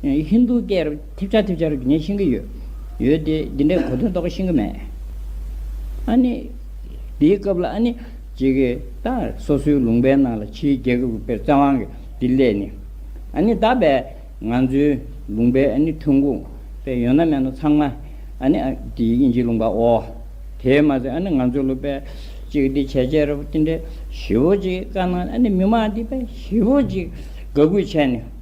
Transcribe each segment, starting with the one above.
ཧིན་རྡུ་སྐད་རུ་ཐེབས་ཆག་ཐེབས་ཆག་རུ་ངས་ཤེས་ཀྱི་ཡོད། ཡོད་དེ། འདི་འདྲའི་གོ་དོན་རྟོགས་ཀྱི་ཤེས་ཀྱི་མེད། ཨཱ་ནི། དེའི་སྐབས་ལ་ཨཱ་ནི། ཅེས་ཀྱི་ད། སོ་སོའི་ལུང་པའི་ནང་ལ་ཕྱིའི་རྒྱལ་ཁབ་ཀྱི་དཔེར་བཙན་དབང་གི་འདི་སླད་ནི། ཨཱ་ནི་ད་པས། ང་ཚོའི་ལུང་པའི་ཨཱ་ནི་ཐོན་ཁུངས་པས་ཡོད་ན་མེད་ན་ཚང་མ། ཨཱ་ནི། དེ་དབྱིན་ཇིའི་ལུང་པ་འོ། དེས་མ་ཟད་ཨཱ་ནི་ང་ཚོའི་ལུ་པས། ཅེས་ཀྱི་འདི་བྱས་བྱས་རུ་དེ་འདྲའི་བཞི་བོ་ཅིག་དཀའ་སྣང་ཨཱ་ནི་མི་མང་འདི་པས་བཞི་བོ་ཅིག་དགའ་གུས་བྱས་ནས།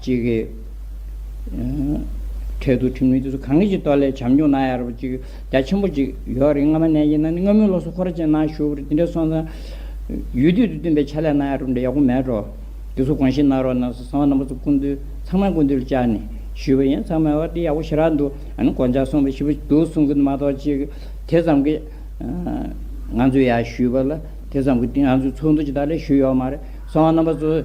གཅིག་གིས། འཕྲལ་དུ་ཁྲིམས་ལུགས་སྤྱི་ཚོགས་གང་གི་ཅིག་ཏོག་ལས་བྱམས་སྐྱོང་གནང་ཡག་རབས་ཅིག་རྒྱ་ཆེན་པོ་ཅིག་ཡོད་རེད་སྔ་མ་ནས་ཡིན་ན་ནི་སྔ་མོའི་ལོ་སོ་འཁོར་ཅན་ནང་ཞུགས་རེད་དེ་འདྲས་སོང་ཙང། ཡུལ་དུས་དུ་བསྟུན་པའི་ཕྱག་ལས་གནང་ཡག་རབས་འདྲ་ཡག་པོ་མེད་རོ། དེ་ཚོ་གོང་ཞིག་གནང་རོགས་གནང་སོ་གསང་བ་རྣམ་པ་ཚོ་སྐུ་མདུན་ཚང་མའི་སྐུ་མདུན་ལ་བཅར་ནས་ཞུས་པ་ཡིན་ཚང་མས་ཨོ་འདི་ཡག་པོ་ཞེ་དྲག་འདུག་ཨ་ནི་གོ་འཇགས་སོང་བས་ཞིབ་པོ་འདུག་གསུང་གི་མ་གཏོགས་ཅིག་དེ་ཙམ་གྱིས། ང་ཚོས་ཡག་ཞུས་པ་ལ་དེ་ཙམ་གྱིས་ང་ཚོས་ཚོགས་འདུ་ཅིག་དག་ལས་ཞུས་ཡོག་མ་རེད་གསང་བ་རྣམ་པ་ཚོ།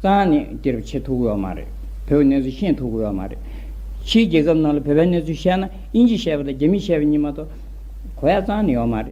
གཙང་ནི་དེ་རུ་ཆེས་ཐུག་ཡོད་མ་རེད། བོད་གནས་ཚུལ་ཤེས་ཐུག་ཡོད་མ་རེད། ཕྱིའི་རྒྱལ་ཁབ་རྣམས་ལ་བོད་པའི་གནས་ཚུལ་བཤད་ན་དབྱིན་ཇི་བཤད་པ་དང་རྒྱ་མི་བཤད་པ་གཉིས་མ་གཏོགས། གོ་ཡ་གཙང་ནི་ཡོད་མ་རེད།